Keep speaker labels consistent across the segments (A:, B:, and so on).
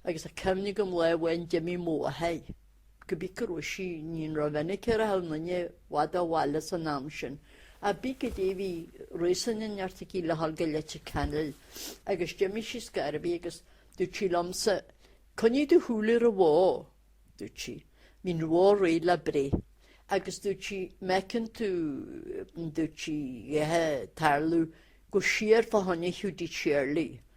A: agus tá cuimhne agam lá amháin d'imigh mo mháthair cibé cá raibh sí, níor mhinic a rachadh an duine i bhfad ó bhaile san am sin, ach cibé goidé bhí réasún inteacht aici le dhul go Leitir Ceanainn, agus d'imigh sí ar scor ar bith agus dúirt sí liomsa, Coinnigh do shúil ar an bhó, dúirt sí, bhí an bhó réidh le breith, agus dúirt sí, má fheiceann tú, dúirt sí, a dhath a' tarlú gabh siar fá choinne Hiúdaí Shéarlaí.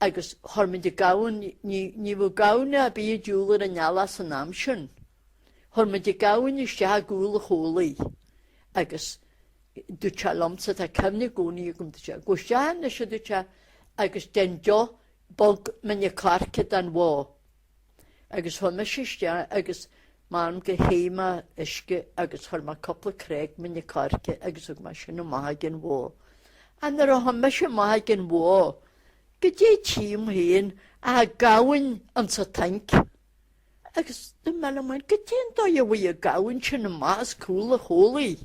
A: agus chuir muid an gamhain, ní bheadh gamhna a' bith a' diúl ar an eallach san am sin. Chuir muid an gamhain isteach i gCúl a' Chóilígh agus duairt sé liomsa, tá cuimhne i gcónaí agam duairt sé, gabh isteach ann anois, aduairt sé, agus déan deoch bog mine coirce don bhó. agus chuaidh mise isteach agus m'anam gur théigh mé uisge agus chuir mé cupla crág mine coirce agus thug mé sin amach chuig an bhó. Ach nuair a chuaidh mise amach chuig an bhó goidé tím féin ach gamhain insa tanc agus dúirt mé liom féin goidé an dóigh a bhfuair an gamhain sin amach as cúl a chulaith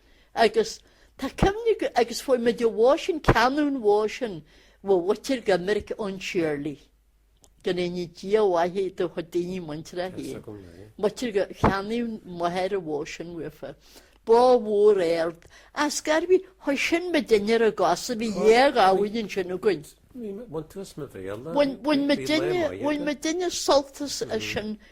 A: agus tá cuimhne agam agus fuair muid an bhó sin, ceannaíodh an bhó sin ó mhuintir Dhoiminic Eoin Shéarlaí, go ndéana Dia a mhaith do a chuid daoine muinteartha a shaoil. Muitir gur cheannaigh m'athair an bhó sin uafa. Bó mhór ard, ar scor ar bith, chuir sin muidinne ar ár gcosa, bhí dhá ghamhain ansin againn. Bhain muidinne, bhain muidinne sult as sin.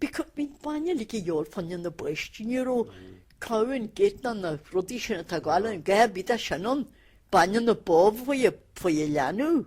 A: Bhí cur mín bainne le díol fan na bpáistí, ní raibh Cow and Gate ná na rudaí sin atá ag gabháil inniu bhí tá sin an bainne na bó maith faoi an leanbh.